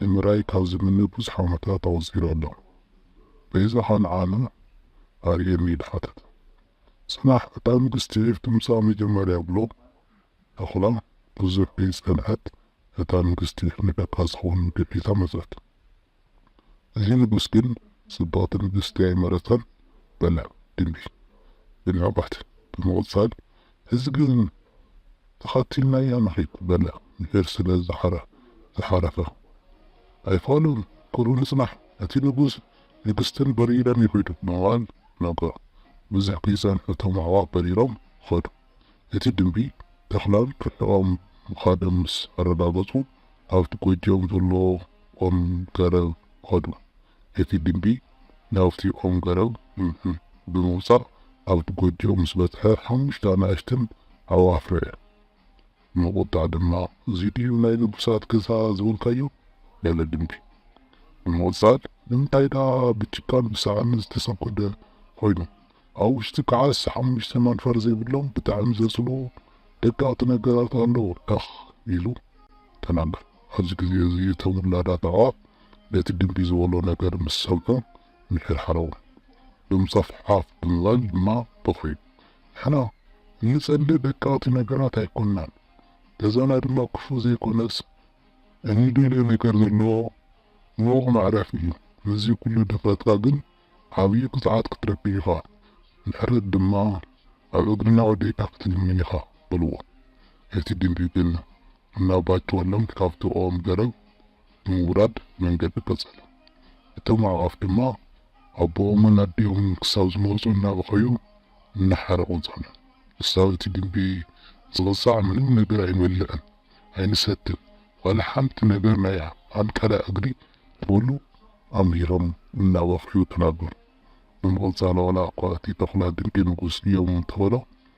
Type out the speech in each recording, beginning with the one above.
ንምርኣይ ካብ ዝምነ ብዙሕ ዓመታት ኣቑጺሩ ኣሎ። በይዛኻ ንዓለም ኣርእየኒ ኢሉ ሓተተ። ጽናሕ እታ ንግስቲ ዒፍ ድምጻ መጀመርያ ብሎ ተኹላ። ብዙሕ ከይጸንሐት እታ ንግስቲ ዒፍ ንደቃ ዝኸውን ምግቢ ሒዛ መጸት። እዚ ንጉስ ግን ጽብቕቲ ንግስቲ ኣይመረጸን በለ። ድምቢ ብንዕቀት ብምቕጻል ሕዚ ግን ተኸቲልናያ ንኺድ በለ ምሒር ስለ ዝሓረፈ። ኣይፋሉን ክብሉ ንጽናሕ እቲ ንጉስ ንግስትን በሪረም ይኺዱ ብምባል ነገሩ። ብዙሕ ከይጸንሑ እቶም ኣዕዋፍ በሪሮም ኸዱ። እቲ ድምቢ ተኽላን ርሒቖም ምኻዶም ምስ ኣረጋገጹ ኣብቲ ጎጆኦም ዘሎ ኦም ገረብ ኸዱ። እቲ ግምቢ ናብቲ ኦም ገረብ ብምውጻእ ኣብቲ ጎጆ ምስ በጽሐ ሓሙሽተ ኣናእሽተን ኣብኡ ኣፍረየ። ንቑጣ ድማ እዚ ድዩ ናይ ንጉሳት ገዛ ዝበልካዮ? በለ ግምቢ ብምቕጻል ንምንታይ ደኣ ብጭቃን ብሳዕርን ዝተሰንኮደ ኮይኑ? ኣብ ውሽጢ ከዓስ ሓሙሽተ መንፈር ዘይብሎም ብጣዕሚ ዘጽልኡ ደቀቕቲ ነገራት ኣለዉ እኽ ኢሉ ተናገረ። ኣብዚ ግዜ እዚ እቶም ውላዳት ኣዕዋፍ ነቲ ድምቢ ዝበሎ ነገር ምስ ሰምዑ ምሕርሓሮም ብምጻፍ ዓፍ ብምባል ድማ በኽዩ። ንሕና እንጸልእ ደቀቕቲ ነገራት ኣይኮናን፣ ገዛና ድማ ክፉእ ዘይኮነስ እንደልዮ ነገር ዘለዎ ምዉቕ መዕረፊ እዩ። ምስዚ ኩሉ ድፍረትካ ግን ዓብዪ ቅጽዓት ክትረክብ ኢኻ፣ ምሕረት ድማ ኣብ እግርና ወዲቕካ ክትልምን ኢኻ በልዎ። እቲ ድምቢ ግን እናባቸወሎም ካብቲ ኦም ገረብ ብምውራድ መንገዱ ቀጸለ። እቶም ኣዕዋፍ ድማ ኣቦኦምን ኣዲኦምን ክሳብ ዝመጹ እናበኸዩ እናሓረቑ ጸንሑ። ክሳብ እቲ ግምቢ ዝቕጻዕ ምንም ነገር ኣይንበልዕን ኣይንሰትን ዋላ ሓንቲ ነገር ናይ ኣንቀላ እግሪ ክብሉ ኣምሂሮም እናበኸዩ ተናገሩ። ብምቕጻል ዋላ'ኳ እቲ ተኹላ ድንቂ ንጉስ እዮም እንተበሎ፣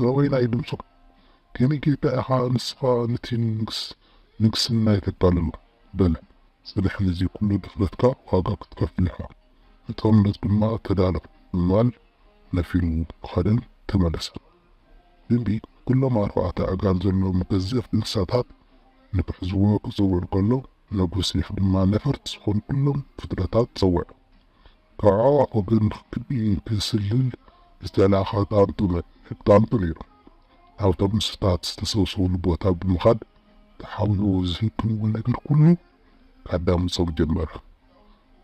ዘበይናይ ድምጹ ከም ኢትዮጵያ ኢኻ ንስኻ ንቲ ንግስ ንግስና የተጋልሎ በለ ጽንሕ ንዚ ኩሉ ድፍረትካ ዋጋ ክትከፍል ኢኻ ንጦርነት ድማ ተዳሎ ብምባል ነፊሩ ከደን ተመለሰ ድምቢ ኩሎም ኣርባዕተ ኣእጋር ዘለዎም ገዘፍ እንስሳታት ንክሕዝዎ ክጽውዕ ከሎ ነጉስ ኒሕ ድማ ነፈርቲ ዝኾኑ ኩሎም ፍጥረታት ጸውዐ ከዕዋ ክብል ክቢ ክስልል ዝተላእከ ጣንጡ ነይሩ። ኣውቶቡስታት ዝተሰብሰቡሉ ቦታ ብምኻድ ተሓቢኡ ዝህብዎ ነገር ኩሉ ከዳምጾም ጀመረ።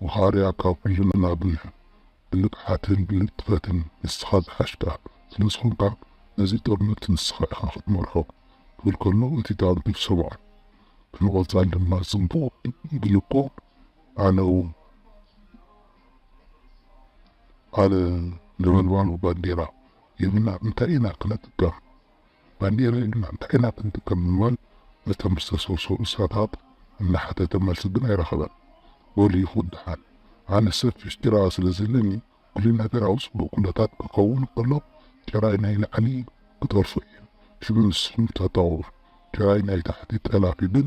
ወኻርያ ካብ ኩልና ብንቕሓትን ብንጥፈትን ንስኻ ዝሓሽካ ስለዝኾንካ ነዚ ጦርነት ንስኻ ኢኻ ክትመርሖ ክብል ከሎ እቲ ጣንጡ ሰምዖ። ብምቕጻል ድማ ጽቡቕ ግን እኮ! ኣነውም ኣነ ነበልባሉ ባንዴራ የብልናን እንታይ ኢና ክነጥቀም ባንዴራ የብልናን እንታይ ኢና ክንጥቀም ብምባል ነቶም ዝተሰውሰው እንስሳታት እናሓተተ መልሲ ግን ኣይረኸበን። በሉ ይኹን ደሓን ኣነ ሰፊሕ ጭራ ስለ ዘለኒ ኩሉ ነገር ኣብ ጽቡቕ ኩነታት ክኸውን ከሎ ጭራይ ናይ ላዕሊ ክጠልፎ እየ ሽዑ ንስኹም ተጣወሩ ጭራይ ናይ ታሕቲ ጠላፊ ግን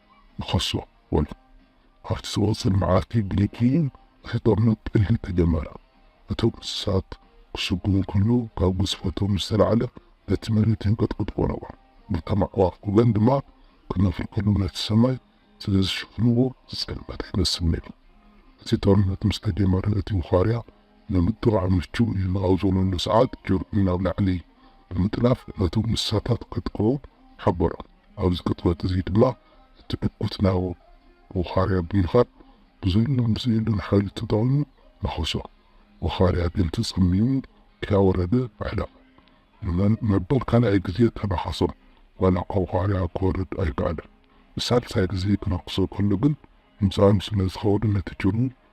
ንኸሶ በሉ። ኣብቲ ዝቕጽል መዓልቲ ብለይቲ እቲ ጦርነት ብጥይት ተጀመረ። እቶም እንስሳት ክስጉሙ ከለዉ ካብ ግዝፈቶም ዝተላዕለ ነቲ መሬት የንቀጥቅጥዎ ነበሩ። እቶም ኣዕዋፍ ወገን ድማ ክነፍሩ ከለዉ ነቲ ሰማይ ስለ ዝሽፍንዎ ዝጸልመተ ይመስል ነይሩ። እቲ ጦርነት ምስ ተጀመረ እቲ ውኻርያ ንምጥቓዕ ምቹእ እዩ ኣብ ዝበለሉ ሰዓት ጀርዲን ናብ ላዕሊ ብምጥላፍ ነቶም እንስሳታት ከጥቅዑ ሓበሮም። ኣብዚ ቅጥበት እዚ ድማ እቲ ዕጉት ናብ ወኻርያ ብምኻድ ብዘሎን ብዘየሎን ሓይሉ ተጠቒሙ ነኸሶ። ወኻርያ ግን ተጸሚሙ ከያወረደ ኣሕለቐ። ንመን መበል ካልኣይ ግዜ ተናኸሶም ዋላኳ ወኻርያ ክወርድ ኣይከኣለን። ንሳልሳይ ግዜ ክነኽሶ ከሎ ግን ምጻኑ ስለ ዝኸበዶ ነቲ ጭሩ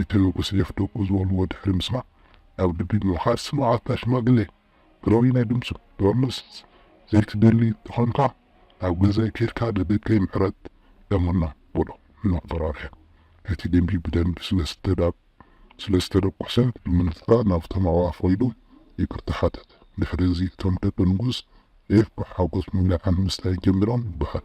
እቲ ንጉስ ሌፍ ደቁ ዝበልዎ ድሕሪ ምስማዕ ናብ ልቢ ብምኻድ ስምዓታ ሽማግሌ ግረዊ ናይ ድምጹ ክቅንስ ዘይትደሊ እንተኾንካ ናብ ገዛይ ኬድካ ንደቀይ ምሕረት ለምኖም በሎ እናተፈራርሐ እቲ ደምቢ ብደምቢ ስለዝተደቆሰ ብምንፍፋ ናብቶም ኣዕዋፍ ከይዱ ይቅርታ ሓተተ ድሕሪ እዚ እቶም ደቂ ንጉስ ሌፍ ብሓጎስ ምብላዕ ምስታይ ጀሚሮም ይበሃል።